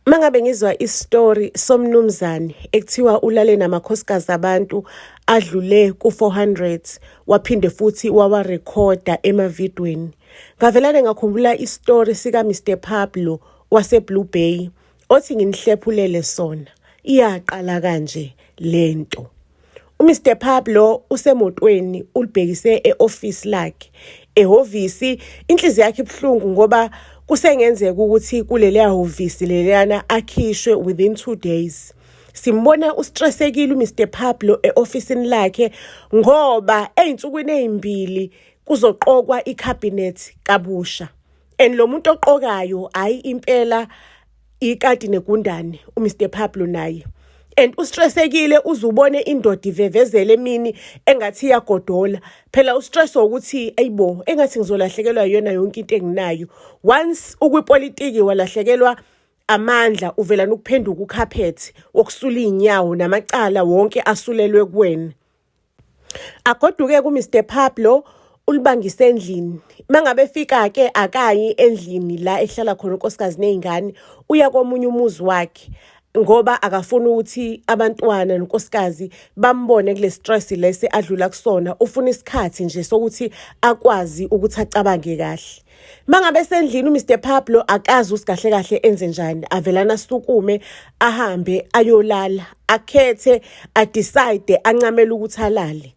Mangabe ngizwa istory somnumzane ekuthiwa ulale namakhosikazi abantu adlule ku-400 waphinde futhi wawarekhoda emavidweni ngavelane ngakhumbula istory sika Mr Pablo waseBlue Bay othi nginihlephulele sona iyaqala kanje lento UMr Pablo usemotweni ulibhekise e-office lakhe ehhovisi inhliziyo yakhe ibuhlungu ngoba kusengenzeka ukuthi kuleliya hhovisi leliyana akhishwe within 2 days simbona ustressekile uMr Pablo eofisini lakhe ngoba ezinsukwini ezimbili kuzoqokwa icabinet kabusha and lo muntu oqokayo hayi impela ikati negundane uMr Pablo naye and ustressekile uzubone indoda ivevezele emini engathi iyagodola phela ustress wokuthi ayibo engathi ngizolahlekelwa yona yonke into enginayo once ukwipolitiki walahlekelwa amandla uvela nokuphenduka ukhaphethi wokusula izinyawo namacala wonke asulelwe kuwena agoduke ku Mr Pablo ulibangise endlini mangabe efika ke akayi endlini la ehlala khona unkosikazi nezingane uya komunye umuzi wakhe ngoba akafuni ukuthi abantwana nonkosikazi bambone kule stress lesi adlula kusona ufuna isikhathi nje sokuthi akwazi ukuthi acabange kahle mangabe sendlini uMr Pablo akazi usigahle kahle enze njani avelana sukume ahambe ayolala akhethe adecide ancamela ukuthi alale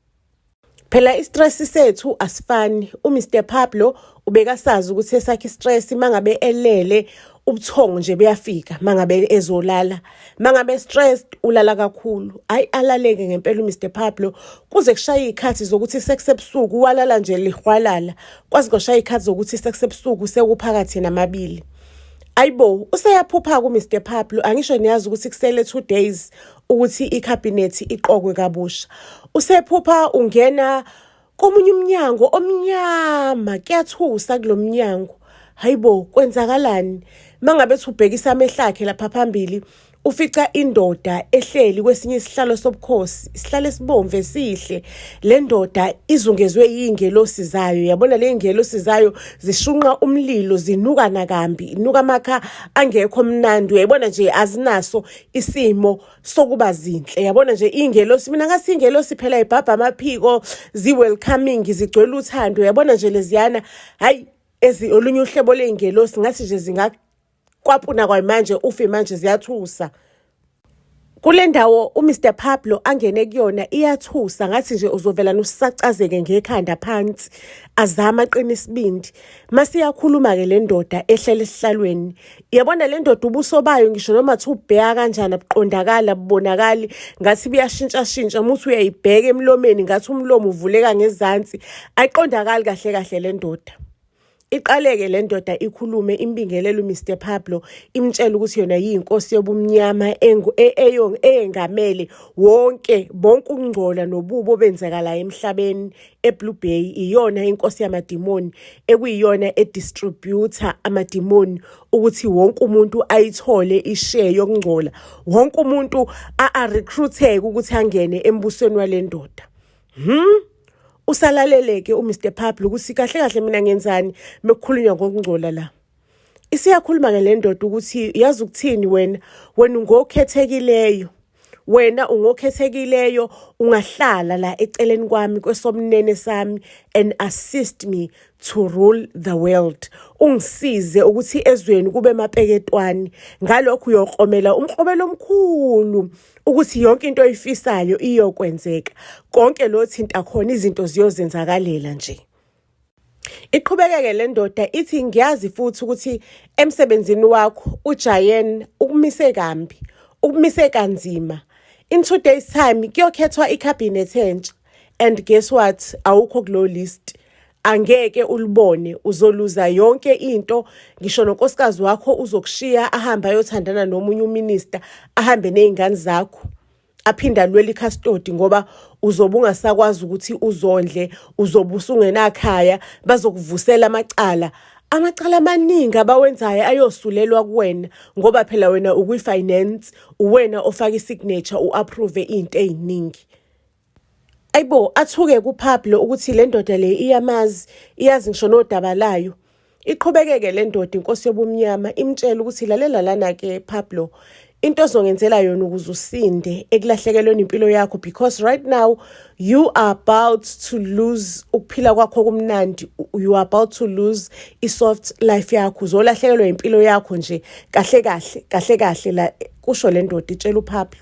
phela istress sethu asifani uMr Pablo ubekasazi ukuthi esakhe istress mangabe elele ubuthongo nje buyafika mangabe ezolala mangabe stressed ulala kakhulu hayi alaleke ngempela uMr Pablo kuze kushaye izikhathi zokuthi sekusebusuku walala nje lihwalala kwazi koshaya izikhathi zokuthi sekusebusuku sekuphakathi namabili Ayibo useyaphupha ku Mr Pablo angisho niyazi ukuthi kusele 2 days ukuthi i cabinet iqokwe kabusha usephupha ungena komunye umnyango omnyama kuyathusa kulomnyango hayibo kwenzakalani mangabe thubhekisa amehlo akhe lapha phambili ufica indoda ehleli kwesinye isihlalo sobukhosi isihlalo esibomvu esihle le ndoda izungezwe iy'ngelosi zayo yabona le y'ngelosi zayo zishunqa umlilo zinuka nakambi inuka amakha angekho mnandi uyayibona nje azinaso isimo sokuba zinhle yabona nje ingelosi mina ngasi ingelosi phela ibhabha amaphiko zi-welcoming zigcwele uthando yabona nje leziyana hhayi ezi olunye uhlobo ley'ngelosi ngathi nje zingakwapuna kwamanje ufe manje ziyathusa kule ndawo uMr Pablo angene kuyona iyathusa ngathi nje uzovela nusacazeke ngekhanda phansi azama aqina isibindi masiyakhuluma ke le ndoda ehlele esihlalweni yabona le ndoda ubuso bayo ngisho noma thi ubheka kanjani abuqondakali abubonakali ngathi buyashintshashintsha muthi uyayibheka emlomeni ngathi umlomo uvuleka ngezansi ayiqondakali kahle kahle le ndoda iqaleke le ndoda ikhulume imbingelelo Mr Pablo imtshela ukuthi yona yinkosi yobumnyama e-, eyengamele wonke bonke ukungcola nobubo benzeka la emhlabeni eBlue Bay iyona inkosi yamadimoni ekuyiyona edistributha amadimoni ukuthi wonke umuntu ayithole ishare yokungcola wonke umuntu a-recruiteke ukuthi angene embusweni walendoda hmm usalaleleke uMr Pablo ukuthi kahle kahle mina ngenzani mekukhulunywa ngokungcola la isiyakhuluma ke le ndoda ukuthi yazi ukuthini wena wena ungokhethekileyo wena ungokhethekileyo ungahlala la eceleni kwami kwesomnene sami and assist me to rule the world ungisize ukuthi ezweni kube mapeketwani ngalokho uyokromela umkrobelo omkhulu ukuthi yonke into oyifisayo iyokwenzeka konke lo thinta khona izinto ziyozenzakalela nje Iqhubekeke le ndoda ithi ngiyazi futhi ukuthi emsebenzini wakho uJayen ukumise kambi, ukumise kanzima. In two days time kuyokhethwa icabinet entsha and guess what awukho kulo list. Angeke ulibone uzoluza yonke into ngisho nonkosikazi wakho uzokushiya ahambe ayothandana nomunye uminister ahambe nezingane zakho. aphinde alwele ikhastodi ngoba uzobe ungasakwazi ukuthi uzondle uzobe usungenakhaya bazokuvusela amacala amacala amaningi abawenzayo ayosulelwa kuwena ngoba phela wena ukwi-finance uwena ofaka i-signature u-approve into ey'ningi ayibo athuke kuphaphi lo ukuthi le ndoda le iyamazi iyazi ngisho nodaba layo Iqhubekeke le ndoda inkosi yobumnyama imtshela ukuthi lalela lana ke Pablo into ozongenzela yona ukuze usinde ekulahlekelweni impilo yakho because right now you are about to lose ukuphila kwakho kumnandi you are about to lose i-soft life yakho uzolahlekelwa impilo yakho nje kahle kahle kahle kahle la kusho le ndoda itshela uPablo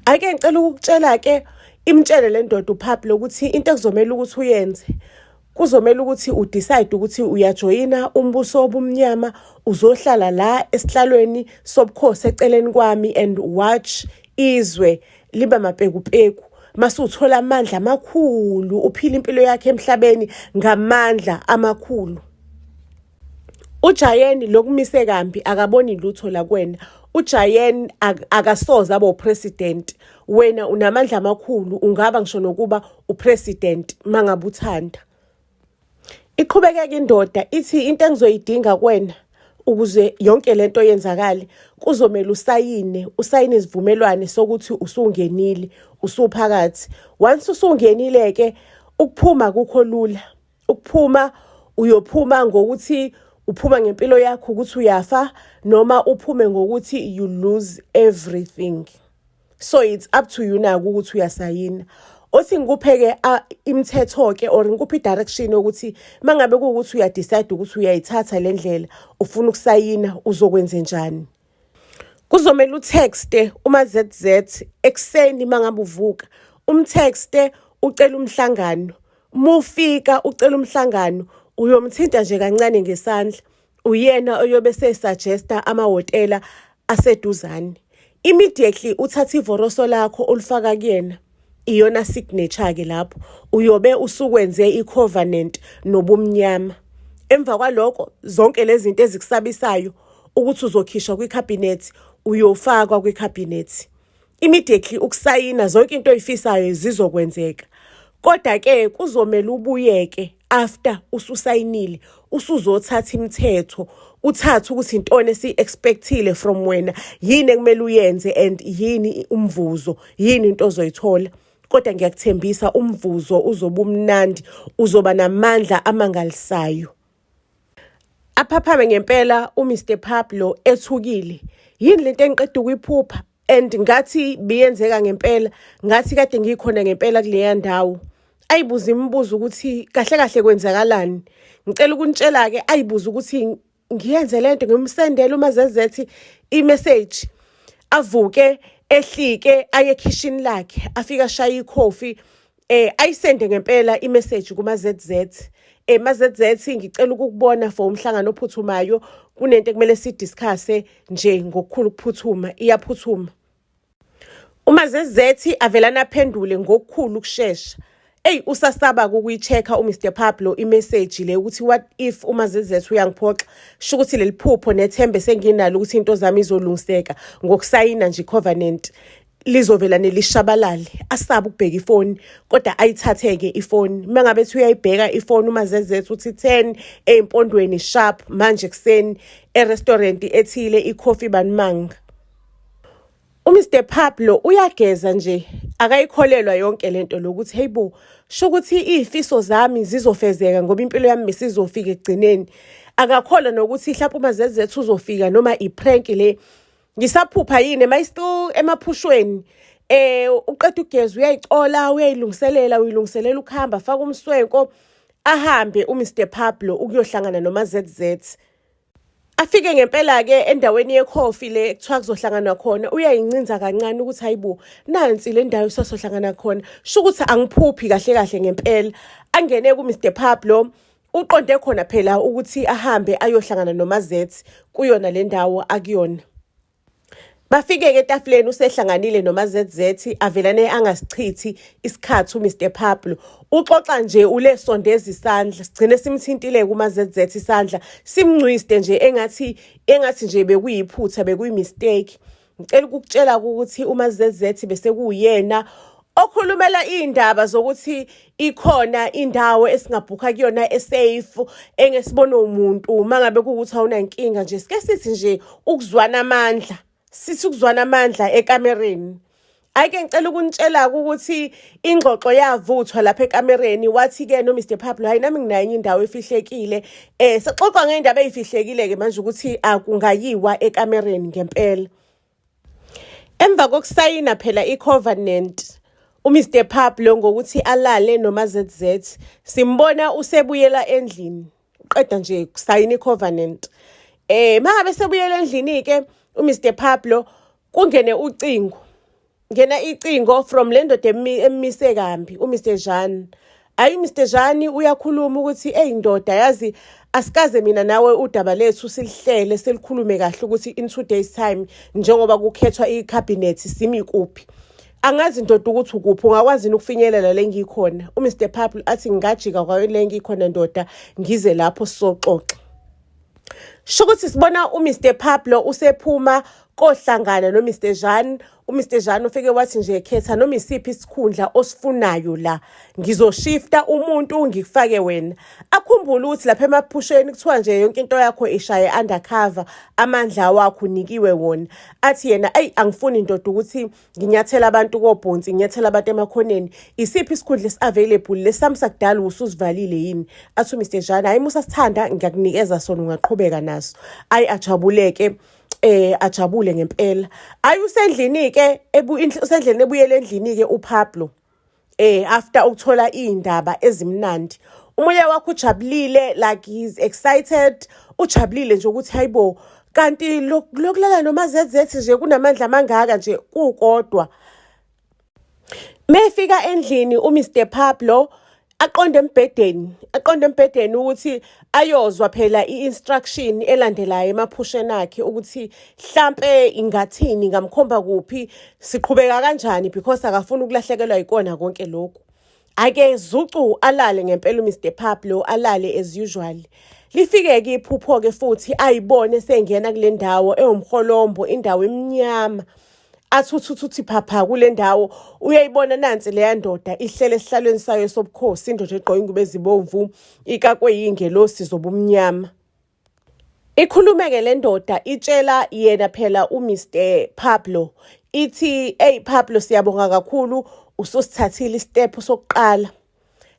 ake ngicela ukukutshela ke imtshele le ndoda uPablo ukuthi into ekuzomela ukuthi uyenze kuzomele ukuthi udecide ukuthi uyajoyina umbuso obumnyama uzohlala la esihlalweni sobukhosi eceleni kwami and watch izwe liba mapekupeku mase uthola amandla amakhulu uphila impilo yakhe emhlabeni ngamandla amakhulu ujayeni lokumise kambi akaboni lutho la kwena uJayen akasoze abe upresident wena unamandla amakhulu ungaba ngisho nokuba upresident mangabe uthanda iqhubekeke indoda ithi into engizoyidinga kwena ukuze yonke lento yenzakale kuzomela usayine usayine isivumelwane sokuthi usungenile usuphakathi once usungenile ke ukuphuma kukho lula ukuphuma uyophuma ngokuthi uphuma ngempilo yakho ukuthi uyafa noma uphume ngokuthi you lose everything so it's up to you naku ukuthi uyasayina othi ngikupheke imithetho ke or ngikuphi direction ukuthi mangabe ukuthi uyadecide ukuthi uyayithatha lendlela ufuna ukusayina uzokwenze njani Kuzomele utexte uma ZZ ekuseni mangabe uvuka umtexte ucela umhlangano mufika ucela umhlangano uyomthinta nje kancane ngesandla uyena oyobe sesuggesta amahhotela aseduzane immediately uthatha ivoroso lakho ulifaka kuyena iyona signature ke lapho uyobe usukwenze icovenant nobumnyama emva kwaloko zonke lezi zinto ezikusabisayo ukuthi uzokhishwa kwicabinet uyofakwa kwicabinet immediately ukusayina zonke into oyifisayo zizokwenzeka kodwa ke kuzomela ubuyeke after ususayinile usuzothatha imithetho kuthatha ukuthi intoni esiyi-expectile from wena yini ekumele uyenze and yini umvuzo yini into ozoyithola kodwa ngiyakuthembisa umvuzo uzoba umnandi uzoba namandla amangalisayo aphaphame ngempela uMr Pablo ethukile yini lento engiqeda ukuyiphupha and ngathi biyenzeka ngempela ngathi kade ngikhona ngempela kuleya ndawo ayibuza imibuzo ukuthi kahle kahle kwenzakalani ngicela ukunitshela ke ayibuza ukuthi ngiyenze lento ngimsendele uma zezethi imessage avuke ehlike aye ekhishini lakhe afika shaya ikhofi eh ayisende ngempela imessage kuma ZZ eh ma ZZ ngicela ukukubona for umhlangano ophuthumayo kunento ekumele si discuss nje ngokukhulu ukuphuthuma iyaphuthuma uma zezethi avelana aphendule ngokukhulu ukushesha eyi usasaba ukuyichecka umr pablo imeseji le ukuthi what if uma zezethu uyangiphoxa sho ukuthi leli phupho nethembe senginalo ukuthi into zami izolungiseka ngokusayina nje icovenant lizovela nelishabalale asabe ukubheka ifoni kodwa ayithatheke ifoni uma ngabe ethi uyayibheka ifoni uma zezethu uthi ten ey'mpondweni sharp manje ekuseni erestaurant ethile ikhofi banimanga uMr Pablo uyageza nje akayikholelwa yonke lento lokuthi heyibo sho ukuthi izifiso zami zizofezeka ngoba impilo yami misizofika ekugcineni akakholwa nokuthi mhlawumbe uma zezethu uzofika noma iprank le ngisaphupha yini am i still emaphushweni eh uqeda ugezi uyayicola uyayilungiselela uyilungiselela ukuhamba faka umswenko ahambe uMr Pablo ukuyohlangana nomaZZ afike ngempela ke endaweni yecoffee le kuthiwa kuzohlangana khona uyayincinza kancane ukuthi hayibo nansi le ndawo sosohlangana khona sho ukuthi angiphuphi kahle kahle ngempela angene ku Mr Pablo Uqonde khona phela ukuthi ahambe ayohlangana noMazethi kuyona le ndawo akuyona. Bafike-ke etafuleni usehlanganile noMaZZ avelane angasichithi isikhathi uMr Pablo. Uxoxa nje ulesondeza isandla sigcine simthintile kuMaZZ isandla simngcwiste nje engathi engathi nje bekuyiphutha bekuyimistake. ngicela ukukutshela ukuthi uma zezethi bese kuyena okhulumela iy'ndaba zokuthi ikhona indawo esingabhukha kuyona esafe engesibona umuntu uma ngabe kuwukuthi awunankinga nje sike sithi nje ukuzwana amandla sithi ukuzwana amandla ekamereni ayike ngicela ukunitshela-ke ukuthi ingxoxo yavuthwa lapha ekamereni wathi-ke no mr pablo hhayi nami nginayo enye indawo efihlekile um sixoxa ngey'ndaba ey'fihlekile-ke manje ukuthi akungayiwa ekamereni ngempela emva kokusayina phela i-covenant umr pablo ngokuthi alale nomazz simbona usebuyela endlini qeda nje kusayina i-covenant eh mangabe sebuyela endlini ke uMr Pablo kungene ucingo ngena icingo from le ndoda emise kambi uMr Jean ayi Mr Jean uyakhuluma ukuthi eyindoda yazi asikaze mina nawe udaba lethu silihlele selikhulume kahle ukuthi in two days time njengoba kukhethwa icabinet simi kuphi Angazi ndoda ukuthi ukuphi ungakwazi yini ukufinyelela le ngikhona. UMr Purple athi ngingajika kwayo le ngikhona ndoda ngize lapho sizoxoxa. Sho ukuthi sibona uMr Pablo usephuma kohlangana noMr Jean uMr Jean ufike wathi nje khetha noma isiphi isikhundla osifunayo la ngizoshifta umuntu ngikufake wena akhumbule ukuthi lapha emaphusheni kuthiwa nje yonke into yakho ishaye undercover amandla wakho unikiwe wona athi yena ayi angifuni indoda ukuthi nginyathela abantu kobhonsi nginyathela abantu emakhoneni isiphi isikhundla esi-available lesami sakudala ususivalile yini athi umr jane hhayi musa sithanda ngiyakunikeza sona ungaqhubeka naso ayi ajabuleke eh ajabule ngempela ayi usendlini ke usendlini ebuyele endlini ke uPablo eh after ukuthola izindaba ezimnandi umoya wakho ujabulile like he's excited ujabulile nje ukuthi hayibo kanti lokulala noma zezethi nje kunamandla amangaka nje kukodwa mefika endlini uMr Pablo aqonde embhedeni aqonde embhedeni ukuthi ayozwa phela i-instruction elandelayo emaphusheni akhe ukuthi hlampe ingathini ngamkhomba kuphi siqhubeka kanjani because akafuni ukulahlekelwa yikona konke lokhu ake zucu alale ngempela uMr Pablo alale as usual lifike-ke iphupho-ke futhi ayibone sengena kule ndawo ewumholombo indawo emnyama athi uthi uthi uthi phapha kule ndawo uyayibona nansi leya ndoda ihlele esihlalweni sayo sobukhosi indoda egqoke ingubo ezibomvu ikakwe yingelosi zobumnyama ikhulumeke le ndoda itshela yena phela uMr Pablo ithi hey Pablo siyabonga kakhulu ususithathile istep sokuqala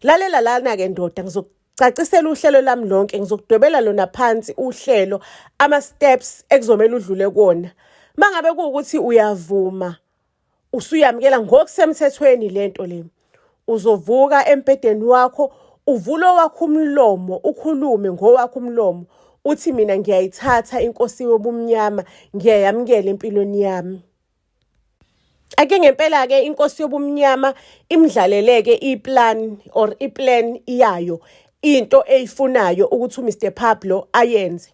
lalela lana ke ndoda ngizok Cacisela uhlelo lami lonke ngizokudwebela lona phansi uhlelo ama steps ekuzomela udlule kona. Mangabe kuukuthi uyavuma usuyamkela ngokusemthethweni lento le. Uzovuka embhedeni wakho uvule owakho umlomo ukhulume ngowakho umlomo uthi mina ngiyayithatha inkosi yobumnyama ngiyayamkela empilweni yami. ake ngempela ke inkosi yobumnyama imdlaleleke iplan or iplan iyayo into eyifunayo ukuthi uMr Pablo ayenze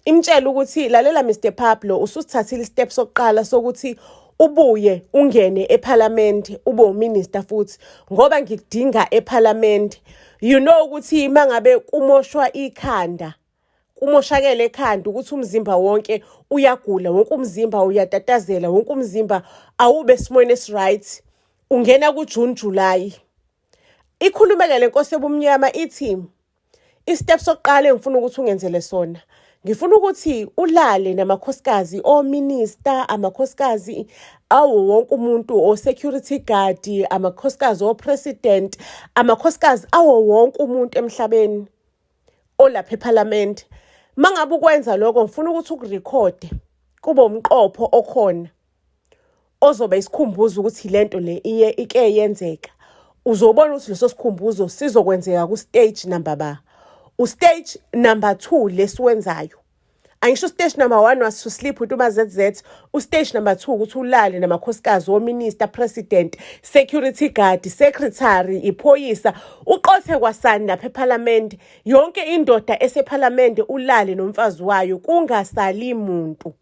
imtshela ukuthi lalela Mr Pablo ususithathile istep sokuqala sokuthi ubuye ungene ephalamende ube uminister futhi ngoba ngikudinga ephalamende you know ukuthi mangabe kumoshwa ikhanda kumoshakele ekhanda ukuthi umzimba wonke uyagula wonke umzimba uyatatazela wonke umzimba awube esimweni esiright ungena kujune julayi ikhulumeke le nkosi ebumnyama ithi istep sokuqala engifuna ukuthi ungenzele sona ngifuna ukuthi ulale namakhosikazi ominister amakhosikazi awo wonke umuntu o-security guard amakhosikazi o-president amakhosikazi awo wonke umuntu emhlabeni olapha ephalamende mangabe ukwenza lokho ngifuna ukuthi ukurekhode kube umqopho okhona ozoba isikhumbuzo ukuthi lento le iye ike yenzeka uzobona ukuthi leso sikhumbuzo sizokwenzeka ku-stage number ba u-stage number two lesiwenzayo angisho stage number 1 wasuslip uthi uma ZZ ustage number 2 ukuthi ulale namakhosikazi wominister president security guard secretary iphoyisa uqothe kwasani lapha eparliament yonke indoda eseparliament ulale nomfazi wayo kungasali muntu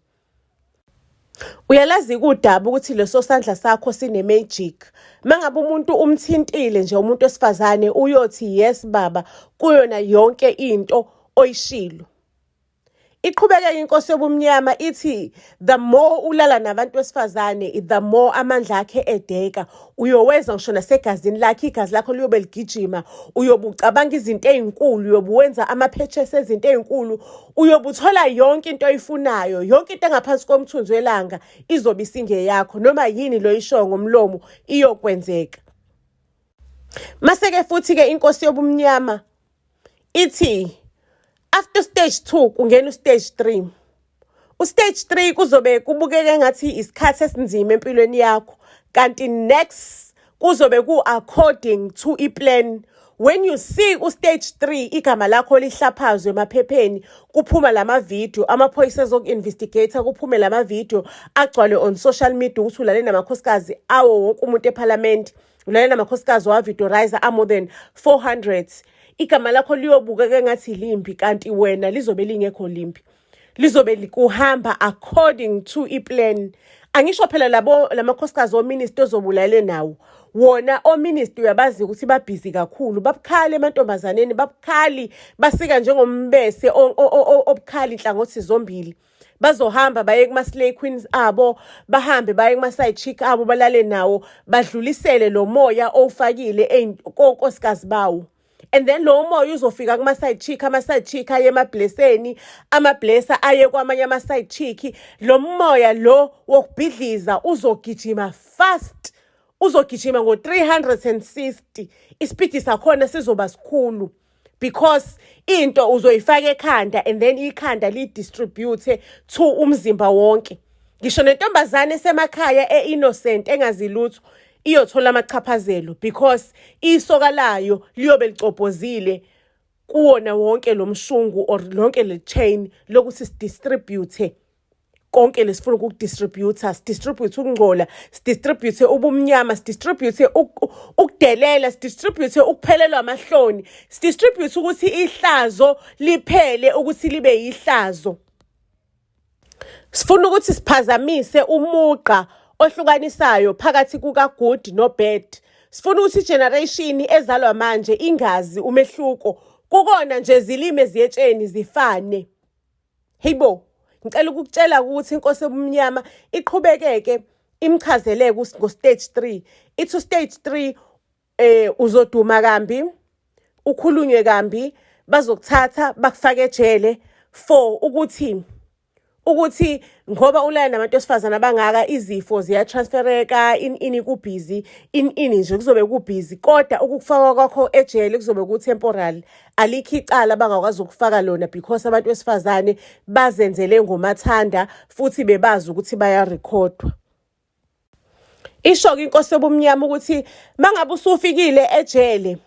Uyalazi kudaba ukuthi leso sandla sakho sine magic. Mangabe umuntu umthintile nje umuntu wesifazane uyothi yes baba kuyona yonke into oyishilo. Iqhubeke inkosi yobumnyama ithi the more ulala nabantu besifazane the more amandla akhe edeka uyoweza ngisho nasegazini lakhe igazi lakho liyobe ligijima uyobucabanga izinto ezinkulu uyobuwenza ama purchase ezinto ezinkulu uyobe uthola yonke into oyifunayo yonke into engaphansi komthunzi welanga izobe isingeyakho noma yini lo ishoyo ngomlomo iyokwenzeka maseke futhi-ke inkosi yobumnyama ithi after stage two kungena ustage three ustage three kuzobe kubukeka engathi isikhathi esinzima empilweni yakho kanti next kuzobe ku according to i plan when you see u stage 3 igama lakho lihlaphazwe emaphepheni kuphuma lama video amaphoyisa ezoku investigator kuphume lama video agcwale on social media ukuthi ulale namakhosikazi awo wonke umuntu eParliament ulale namakhosikazi wa videorizer a more than 400 igama lakho liyobukeka ngathi limbi kanti wena lizobe lingekho limbi lizobe likuhamba according to iplan angisho phela labo lamakhosikazi ominister ozobulalele nawo wona ominister uyabazi ukuthi babhizi kakhulu babukhali emantombazaneni babukhali basika njengombese obukhali inhlangothi zombili bazohamba baye kuma-slay queens abo bahambe baye kuma-side chick abo balale nawo badlulisele lo moya owufakile konkosikazi bawo and then lowo moya uzofika kuma-side chick ama-side chick aye emabhleseni amablesa aye kwamanye ama-side chick lo moya lo wokubhidliza uzogijima fast uzogijima ngo-360 isipidi sakhona sizoba sikhulu because into uzoyifaka ekhanda and then ikhanda lidistribute to umzimba wonke ngisho nentombazane esemakhaya e-innocent engazilutho iyothola amachaphazelo because isoka layo liyobe licobhozile kuwona wonke lo mshungu or lonke le chain lokuthi sidistribute konke lesifuna ukukudistributha sidistribute ukungcola sidistribute ubumnyama sidistribute ukudelela sidistribute ukuphelelwa amahloni sidistribute ukuthi ihlazo liphele ukuthi libe yihlazo Sifuna ukuthi siphazamise umugqa ohlukanisayo phakathi kukagood nobad. Sifuna ukuthi igeneration ezalwa manje ingazi umehluko. Kukona nje zilimi eziyetsheni zifane. Heybo, ngicela ukukutshela ukuthi inkosi ebumnyama iqhubekeke imchazeleke ngo-stage 3. Ithi u-stage 3 eh uzoduma kambi ukhulunywe kambi bazokuthatha bakufake ejele for ukuthi ukuthi ngoba ulaya nabantu esifazana abangaka izifo ziyatransfereka in ini kubhizi in ini nje kuzobe kubhizi kodwa ukufaka kwakho ejele kuzobe ku-temporal alikho icala bangakwazi ukufaka lona because abantu besifazane bazenzele ngomathanda futhi bebazi ukuthi bayarekhodwa Isho-ke inkosi yobumnyama ukuthi mangabe usufikile ejele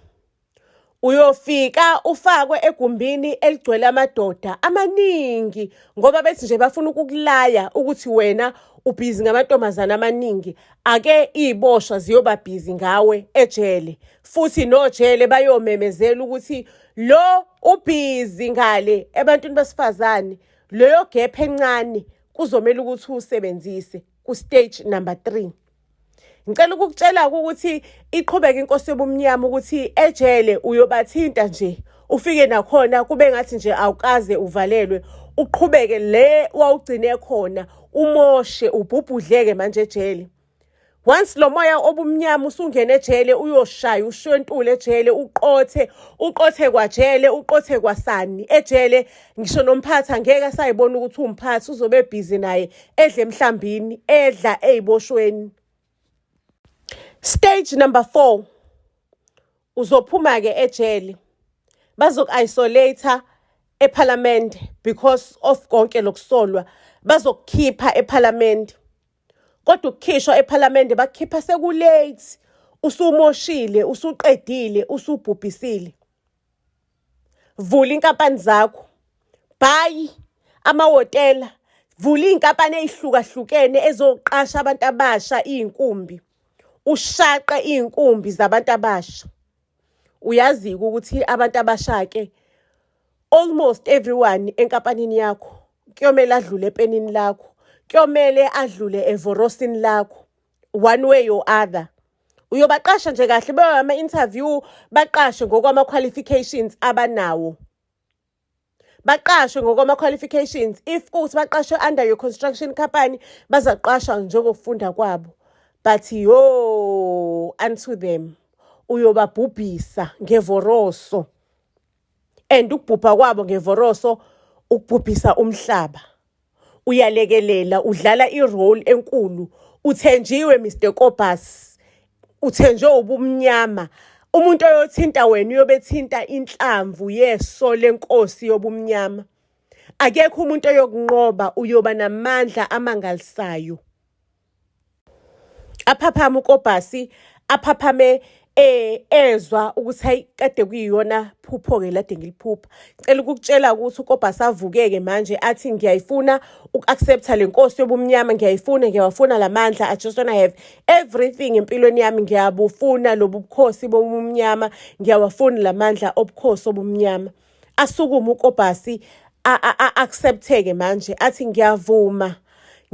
uyofika ufakwe egumbini eligcwele amadoda amaningi ngoba bethi nje bafuna ukukulaya ukuthi wena ubhizi ngamantombazane amaningi ake iy'boshwa ziyoba bhizi ngawe ejele futhi nojele bayomemezela ukuthi lo ubhizi ngale ebantwini besifazane leyo gepha encane kuzomele ukuthi usebenzise ku stage number 3 ngicela ukukutshela ukuthi iqhubeka inkosi yobumnyama ukuthi ejele uyobathinta nje ufike nakhona kube ngathi nje awukaze uvalelwe uqhubeke le wawugcine khona umoshe ubhubhudleke manje ejele once lo moya obumnyama usungene ejele uyoshaya ushwentule ejele uqothe uqothe kwajele uqothe kwasani ejele ngisho nomphathi angeke asayibona ukuthi umphathi uzobe ebhizi naye edle emhlambini edla eyiboshweni stage number 4 uzophuma ke ejele bazoku-isolator ephalamende because of konke lokusolwa bazokukhipha ephalamende kodwa ukukhishwa ephalamende bakukhipha sekulate usumoshile usuqedile usubhubhisile vula inkampani zakho bhayi amahhotela vula iy'nkampani ey'hlukahlukene ezoqasha abantu abasha iy'nkumbi ushaqe iy'nkumbi zabantu abasha uyazi ukuthi abantu abashake almost everyone enkampanini yakho kuyomele adlule epenini lakho kuyomele adlule evorosini lakho one way or other uyobaqasha nje kahle bewa ama-interview baqashe ngokwama-qualifications abanawo baqashwe ngokwama-qualifications if kuwukuthi baqashwe under your construction company bazaqashwa njengokufunda kwabo but yo unto them uyobabhubhisa ngevoroso and ukubhubha kwabo ngevoroso ukubhubhisa umhlaba uyalekelela udlala irole enkulu uthenjiwe Mr Kobus uthenjwe ubumnyama umuntu oyothinta wena uyobethinta inhlamvu yeso lenkosi yobumnyama akekho umuntu oyokunqoba uyoba namandla amangalisayo aphaphama ukobhasi aphaphame eh ezwa ukuthi hayi kade kuyiyona phupho-ke lade ngiliphupha ngicela ukukutshela ukuthi ukobha savukeke manje athi ngiyayifuna uku-accepta le nkosi yobumnyama ngiyayifuna ngiyawafuna la mandla i just wanna have everything empilweni yami ngiyabufuna lobu bukhosi bobumnyama ngiyawafuna la mandla obukhosi obumnyama asukume ukobhasi accepteke manje athi ngiyavuma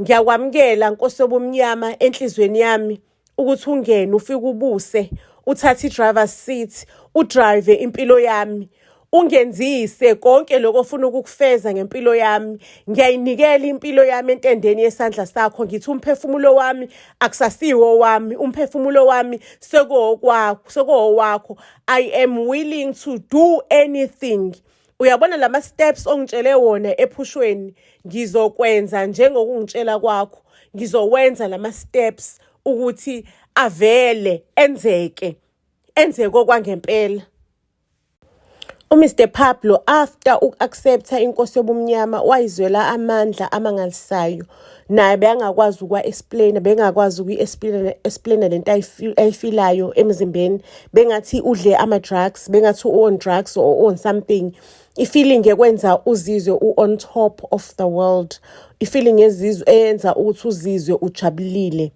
ngiyakwamukela nkosi yobumnyama enhlizweni yami ukuthi ungene ufike ubuse uthathe i-driver seat udrive impilo yami ungenzise konke lokho ofuna ukukufeza ngempilo yami ngiyayinikela impilo yami entendeni yesandla sakho ngithi umphefumulo wami akusasiwo wami umphefumulo wami sekuwokwakho sekuwowakho i am willing to do anything uyabona lama steps ongitshele wona ephushweni ngizokwenza njengokungitshela kwakho ngizowenza lama steps ukuthi avele enzeke enzeke okwangempela uMr Pablo after uku-accepta inkosi yobumnyama wayizwela amandla amangalisayo naye bekangakwazi ukwa-explaina bekangakwazi ukuyi-explaina le nto ayifilayo emzimbeni bengathi udle ama-drugs bengathi u-on drugs or u-on something i-feeling ekwenza uzizwe u-on top of the world i-feeling eyenza ukuthi uzizwe ujabulile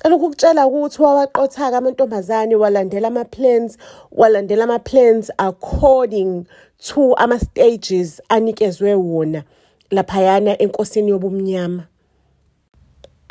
cela ukukutshela ukuthi wawaqothaka amantombazane walandela ama-plans walandela ama-plans according to ama-stages anikezwe wona laphayana enkosini yobumnyama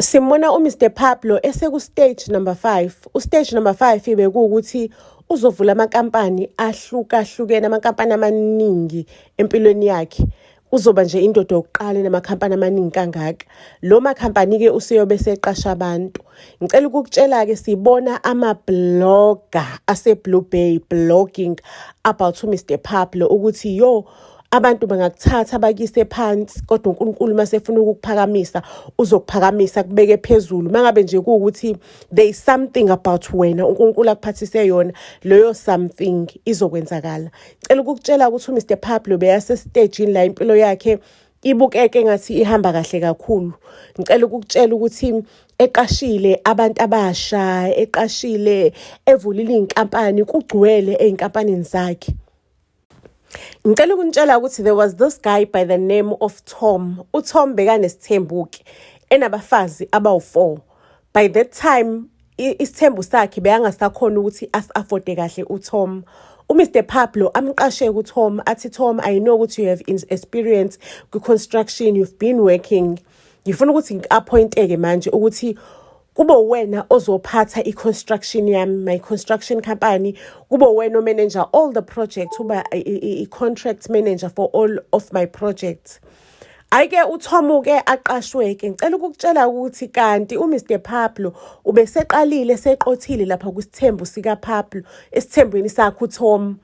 simbona uMr Pablo esekustage number 5 ustage number 5 bekuwukuthi uzovula amakampani ahlukahlukene amakampani amaningi empilweni yakhe uzoba nje indoda yokuqala enamakhampani amaningi kangaka lo makhampani-ke useyobe seqasha abantu ngicela ukukutshela-ke sibona amabloga aseblue bay blogging about umr pablo ukuthi yo abantu bangakuthatha bakise phansi kodwa uNkulunkulu uma sefuna ukukuphakamisa uzokuphakamisa kubeke phezulu mangabe nje kuwukuthi there is something about wena uNkulunkulu akuphathise yona leyo something izokwenzakala cela ukukutshela ukuthi uMr Pablo beyase stage la impilo yakhe ibukeke ngathi ihamba kahle kakhulu ngicela ukukutshela ukuthi eqashile abantu abasha eqashile evulile inkampani kugcwele einkampanini zakhe ngicela ukunitshela ukuthi there was this guy by the name of tom utom bekanesithembu-ke enabafazi abawu-four by that time isithembu sakhe beyangasakhona ukuthi asi-afode kahle utom umr pablo amqashe kutom athi tom i know ukuthi you have experience kwi-construction you've been working ngifuna ukuthi ngi-appointeke manje ukuthi kube wena ozophatha i-construction yami my construction company kube wena omanager all the projects uba i-contract manager for all of my projects ayike uthomuke aqashweke ngicela ukukutshela ukuthi kanti uMr Pablo ubeseqalile seqothile lapha kwisithembu sika Pablo esithembweni sakhe uTom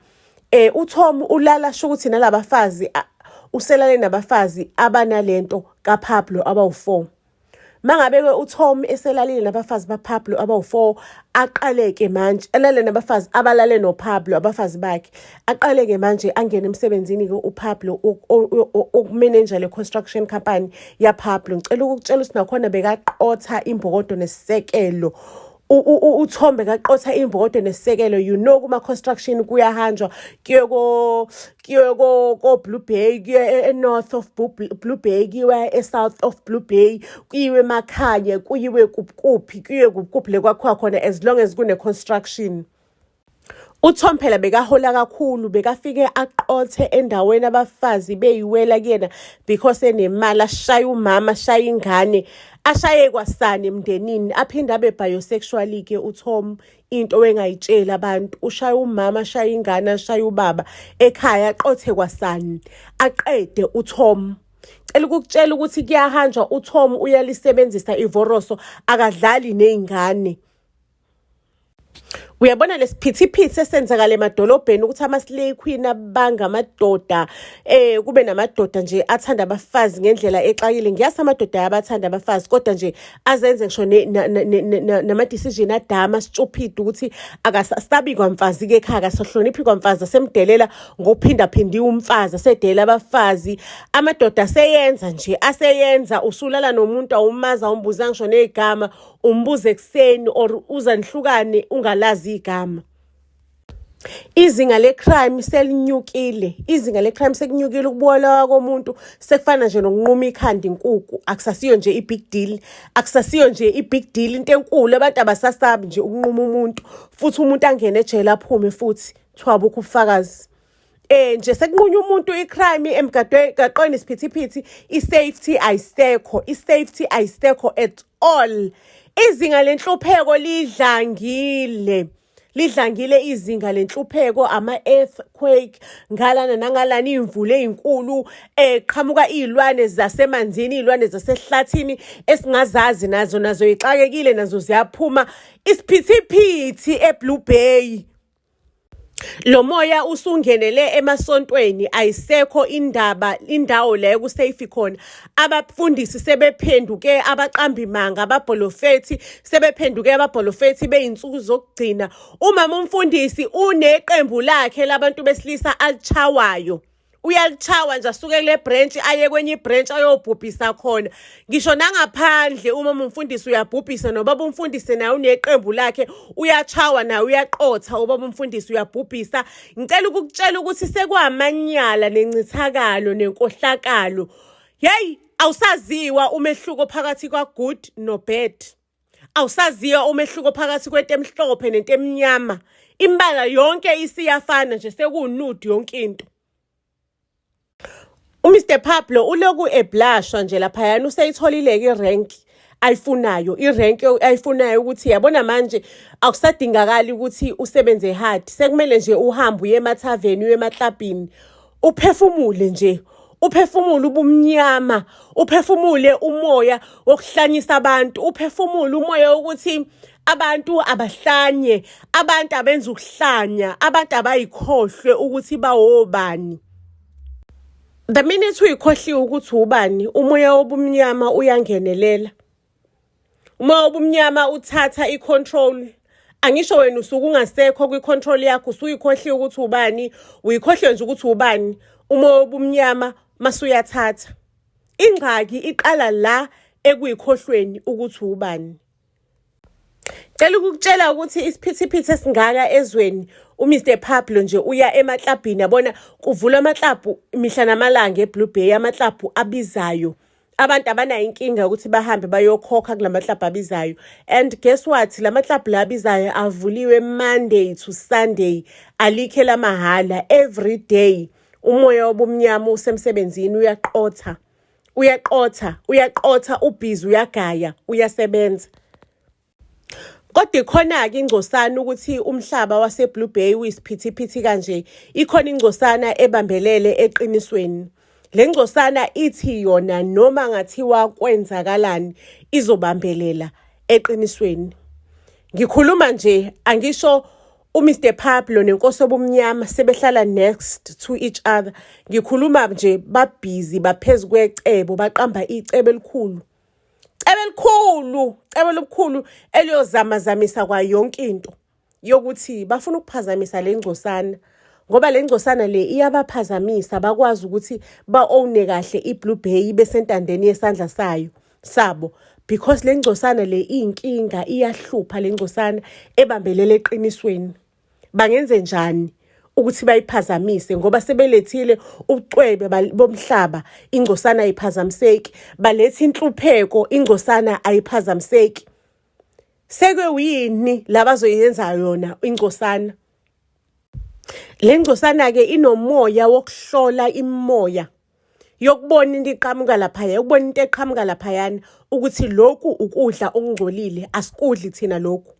eh uTom ulala sho ukuthi nalabafazi uselale nabafazi abanalento kaPablo abawu4 mangabe ke uTom eselalile nabafazi baPablo abawu4 aqaleke manje alale nabafazi abalale noPablo abafazi bakhe aqaleke manje angene emsebenzini ke uPablo ukumanager le construction company yaPablo ngicela ukukutshela ukuthi nakhona bekaqotha imbokodo nesisekelo uthombe kaqotha imbokodo nesisekelo you know kuma-construction kuyahanjwa kuye kuye ko-blue bay kuye e-north of blue bay kuyiwe e-south of blue bay kuyiwe emakhanye kuyiwe kuphi kuyiwe kuphi le kwakhiwa khona as long as kune-construction UTom phela bekahola kakhulu bekafike aqothe endaweni abafazi beyiwela kuyena because enemali ashaya umama ashaya ingane ashaye kwasani emndenini aphinde abe biosexually ke uTom into engayitsheli abantu ushaya umama ashaya ingane ashaya ubaba ekhaya aqothe kwasani aqede uTom cela ukukutshela ukuthi kuyahanjwa uTom uyalisebenzisa ivoroso akadlali nezingane uyabona lesiphithiphithi esenzakala emadolobheni ukuthi ama-slay queen abanga amadoda eh kube namadoda nje athanda abafazi ngendlela exakile ngiyazi amadoda ayabathanda abafazi kodwa nje azenze ngisho nama-decision adama stupid ukuthi akasabi kwamfazi-ke ekhaya akasahloniphi kwamfazi asemdelela ngokuphindaphindiwe umfazi asedelela abafazi amadoda aseyenza nje aseyenza usulala nomuntu awumazi awumbuza ngisho negama umbuze ekuseni or uza nihlukane ungalazi igama izinga lecrime selinyukile izinga lecrime sekunyukile ukubulawa komuntu sekufana nje nokunquma ikhanda inkuku akusasiyo nje i-big deal akusasiyo nje i-big deal into enkulu abantu abasasabi nje ukunquma umuntu futhi umuntu angene ejele aphume futhi kuthiwa bukho ubufakazi eh nje sekunqunywa umuntu icrime emgaqweni isiphithiphithi isafety ayisekho isafety ayisekho at all izinga lenhlupheko lidlangile lidlangile izinga lenhlupheko ama-earthquake ngalana nangalana iy'mvula ey'nkulu um eh, qhamuka iy'lwane zasemanzini iy'lwane zasehlathini esingazazi nazo nazo yixakekile nazo ziyaphuma isiphithiphithi eblue bay Lo moya usungenele emasontweni ayisekho indaba indawo la ekusafe khona. Abafundisi sebephenduke abaqambimanga ababholofethi sebephenduke ababholofethi beyinsuku zokugcina. Umama umfundisi uneqembu lakhe labantu besilisa alichawayo. uyalichawa nje asuke kule branch aye kwenye ibranch ayobhubhisa khona ngisho nangaphandle uma umfundisi uyabhubhisa nobaba umfundisi naye uneqembu lakhe uyachawa naye uyaqotha ubaba umfundisi uyabhubhisa ngicela ukukutshela ukuthi sekwamanyala nencithakalo nenkohlakalo yeyi awusaziwa umehluko phakathi kwa-good no-bad awusaziyo umehluko phakathi kwento emhlophe nento emnyama imbala yonke isiyafana nje sekuwunude yonke into uMr Pablo uloku eblashwa nje laphayana useyitholileke irank ayifunayo irank ayifunayo ukuthi yabona manje akusadingakali ukuthi usebenze hard sekumele nje uhambe uye emathaveni uye emaklabhini uphefumule nje uphefumule ubumnyama uphefumule umoya wokuhlanyisa abantu uphefumule umoya wokuthi abantu abahlanye abantu abenza ukuhlanya abantu abayikhohlwe ukuthi bawobani the minute uyikhohliwe ukuthi ubani umoya wobumnyama uyangenelela uma ubumnyama uthatha i-control angisho wena usuke ungasekho kwi-control yakho usuyikhohliwe ukuthi ubani uyikhohliwe nje ukuthi ubani uma wobumnyama masuyathatha ingxaki iqala la ekuyikhohlweni ukuthi ubani Cela ukukutshela ukuthi isiphithiphithi esingaka ezweni uMr Pablo nje uya emaklabhini yabona kuvula amaklabhu mihla namalanga eBlue Bay amaklabhu abizayo abantu abanayo inkinga yokuthi bahambe bayokhokha kula maklabhu abizayo and guess what la maklabhu la abizayo avuliwe monday to sunday alikhe lamahhala every day umoya obumnyama usemsebenzini uyaqotha uyaqotha uyaqotha ubhizi uyagaya uyasebenza Kodwa ikhona-ke ingcosana ukuthi umhlaba waseBlue Bay uyisiphithiphithi kanje, ikhona ingcosana ebambelele eqinisweni. Le ngcosana ithi yona noma ngathiwa kwenzakalani izobambelela eqinisweni. Ngikhuluma nje angisho uMr Pablo nenkosi obumnyama sebehlala next to each other. Ngikhuluma nje babhizi baphezukwe cebo baqamba icebo elikhulu. cebe elikhulu cebe elikhulu eliyozamazamisa kwa yonke into yokuthi bafuna ukuphazamisa le ngcosana ngoba le ngcosana le iyabaphazamisa bakwazi ukuthi ba-owne kahle i-blue bay ibe sentandeni yesandla sayo sabo because le ngcosana le iyinkinga iyahlupha le ngcosana ebambelele eqinisweni bangenze njani ukuthi bayiphazamise ngoba sebelethile ubucwebe bomhlaba ingcosana ayiphazamiseki baletha inhlupheko ingcosana ayiphazamiseki seke uyini labazoyenza yona ingcosana le ngcosana ke inomoya wokuhlola imoya yokubona into iqhamuka laphaya yokubona into eqhamuka laphayana ukuthi lokhu ukudla okungcolile asikudli thina lokhu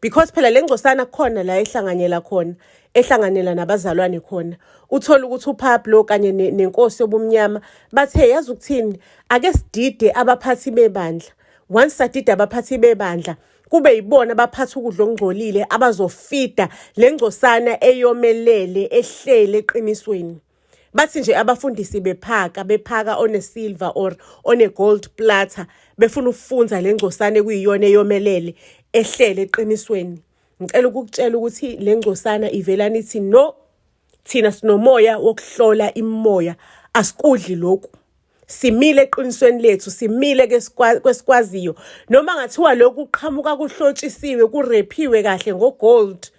because phela le ngcosana khona la ehlanganyela khona ehlanganela nabazalwane khona uthola ukuthi uPablo kanye nenkosi yobumnyama bathe yazi ukuthini ake sidide abaphathi bebandla once sadide abaphathi bebandla kube yibona abaphatha ukudla okungcolile abazofida le ngcosana eyomelele ehlele eqinisweni bathi nje abafundisi bephaka bephaka onesilver or onegold platter befuna ukufunza le ngcosane kuyiyona eyomelele ehlele eqinisweni ngicela ukukutshela ukuthi le ngcosana ivelani ithi no thina sinomoya wokuhlola imimoya asikudli lokhu simile eqinisweni lethu simile kwesikwaziyo noma ngathiwa lokhu kuqhamuka kuhlotshisiwe kurephiwe kahle ngogold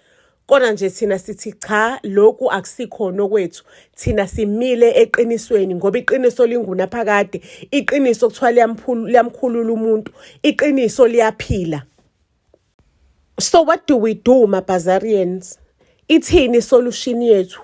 kodwa nje thina sithi cha lokhu akusikhona okwethu thina simile eqinisweni ngoba iqiniso lingunaphakade iqiniso kuthiwa liyamkhulula umuntu iqiniso liyaphila So what do we do maBhazarians? Ithini solution yethu?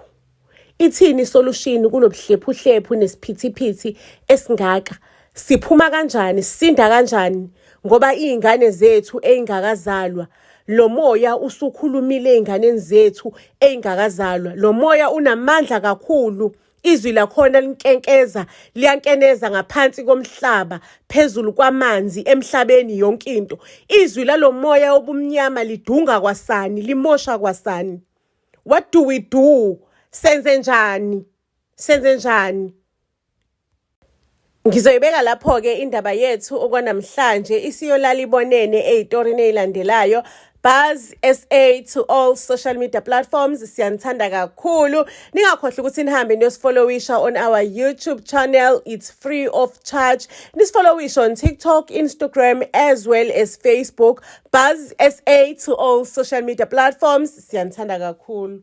Ithini solution kunobuhlephuhlephu nesiphithiphithi esingaka? Siphuma kanjani? Sinda kanjani? Ngoba izingane zethu ezingakazalwa lo moya usukhulumile ezinganeni zethu ezingakazalwa. Lo moya unamandla kakhulu. Izwi lakhona linkenkeza, liyankeneza ngaphansi komhlaba, phezulu kwamanzi, emhlabeni, yonke into. Izwi lalo moya obumnyama lidunga kwasani, limosha kwasani. What do we do? Senze njani? Senze njani? Ngizoyibeka lapho-ke indaba yethu okwanamhlanje isiyolala ibonene eyitorini eyilandelayo Buzz SA to all social media platforms siyanithanda kakhulu ningakhohlwa ukuthi nihambe niyosifollowisha on our YouTube channel it's free of charge nisifollowisha on TikTok Instagram as well as Facebook Buzz SA to all social media platforms siyanithanda kakhulu